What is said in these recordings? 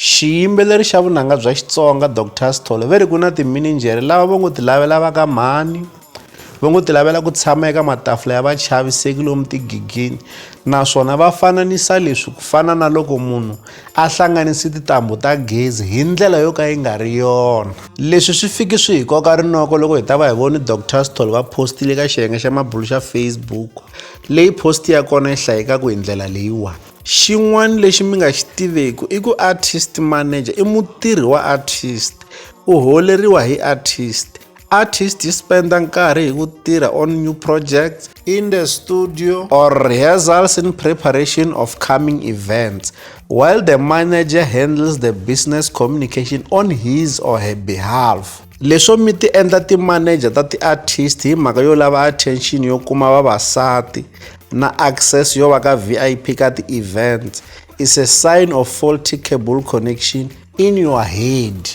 Xiyimbeleri xa vunanga bya Xitsonga Doctor Sithole ve ri ku na timinijhere lava va ngo ti lavela va ka mhani va ngo ti lavela ku tshama eka matafula ya vachaviseki lomu tigigini naswona va fananisa leswi ku fana na loko munhu a hlanganise tintambhu ta gezi hi ndlela yo ka yi nga ri yona leswi swi fiki swi hi koka rinoko loko hi ta va hi voni Doctor Sithole va postile ka xiyenge xa mabulo xa Facebook leyi post ya kona yi hlayekaka hi ndlela leyiwani Xin'wana lexi mi nga xi tiveki i ku artist manager i mutirhi wa artist u holeriwa hi artist artist yi spenda nkarhi hi ku tirha on new projects in the studio or rehearsals in preparation of coming events while the manager handles the business communication on his or her behalf Leswo mi ti endla ti-manager ta ti-artist hi mhaka yo lava attention yo kuma vavasati na access yo va ka VIP ka ti-events is a sign of faulty cable connection in your head.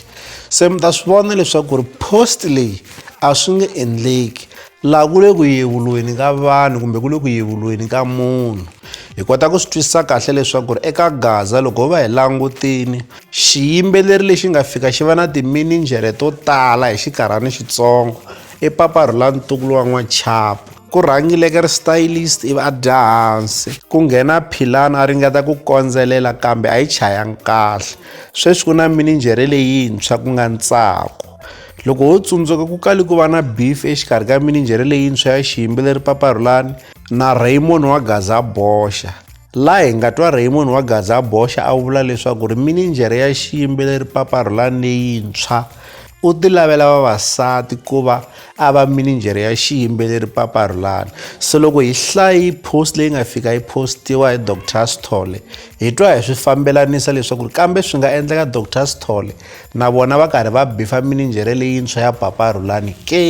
Se mi ta swi vona leswaku ri post leyi a swi nge endleki Laha ku le ku yevuriweni ka vanhu kumbe ku le ku yevuriweni ka munhu, hi kota ku swi twisisa kahle leswaku ri eka Gaza loko ho va hi langutini, xiyimbeleri lexi nga fika xi va na timinijhere to tala hi xikarhani xitsongo i Papa Rhula Ntukulu wa N'wachapu. Ku rhangileke ri stylist ivi a dya hansi, ku nghena Philani a ringeta ku kondzelela kambe a yi chayanga kahle. Sweswi ku na minijhere leyintshwa ku nga Ntsako. loko ho tsundzuka ku kali ku va na beef exikarhi ka mininjhere leyintshwa ya xiyimbi leri paparhulani na raymond wa gaza boxa laha hi nga twa raymond wa gaza boxa a vula leswaku ri mininjhere ya xiyimbi leri paparhulani leyintshwa u ti lavela vavasati ku va a va mininjhere ya xiyimbeleri paparhulani se loko hi hlayi post leyi nga fika yi postiwa hi dr sithole hi twa hi swi fambelanisa leswaku kambe swi nga endleka dr sithole na vona va karhi va bifa mininjhere leyintshwa ya papa rhulani ke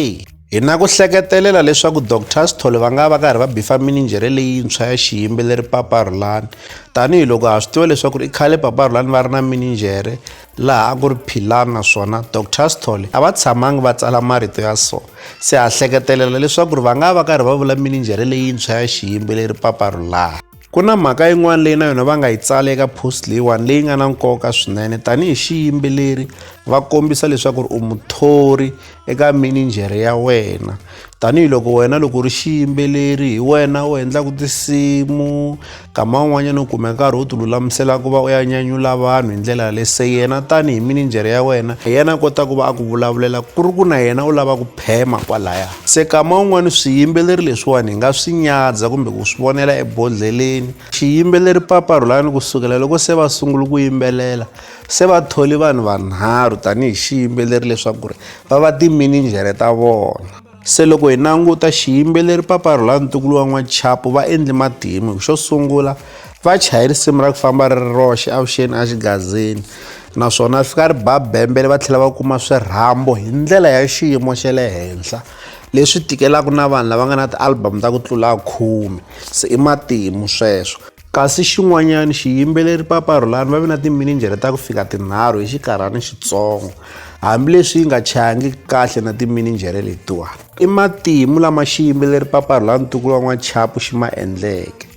hi na ku hleketelela leswaku dr sithole va nga va karhi va bifa mininjhere leyintshwa ya xiyimbeleri papa rhulani tanihiloko ha swi tiva leswaku i khale papa rhulani va ri na mininjhere laha a ku ri philani naswona dr sithole a va tshamangi va tsala marito ya so se ha hleketelela leswaku ri va nga va karhi va vula mininjhere leyintshwa ya xiyimbeleri papa rhulani Ku na mhaka yin'wana leyi na yona va nga yi tsala eka post leyiwani leyi nga na nkoka swinene tanihi xiyimbeleri va kombisa leswaku ri u muthori eka mininjhere ya wena tanihiloko wena loko u ri xiyimbeleri hi wena u endlaka tinsimu nkama wun'wanyana u kume nkarhi u ti lulamisela ku va u ya nyanyula vanhu hi ndlela yaleyo se yena tanihi mininjhere ya wena hi yena a kota ku va a ku vulavulela ku ri ku na yena u lava ku phema kwalaya Se kama un'wana swiyimbeleri leswiwani hi nga swi nyadza kumbe ku swi vonela ebodlheleni. Xiyimbeleri Papa Rhulani ku sukela loko se va sungule ku yimbelela se va thole vanhu vanharhu tanihi xiyimbeleri leswaku ri va va timinijhere ta vona. Se loko hi languta xiyimbeleri Papa Rhulani ntukulu wa N'wachapu va endle matimu. Xo sungula va chaye risimu ra ku famba ri ri roxe avuxeni axigazini naswona ri fika ri ba bembele va tlhela va kuma swirhambo hi ndlela ya xiyimo xa le henhla leswi tikelaka na vanhu lava nga na ti-album ta ku tlula khume se i matimu sweswo kasi xin'wanyana xiyimbeleri paparhulani va ve na timinijere ta ku fika tinharhu hi xikarhana xitsongo hambileswi yi nga chayangi kahle na timinijere letiwani i matimu lama xiyimbeleri paparhulani ntukulu wa n'wachapu xi ma endleke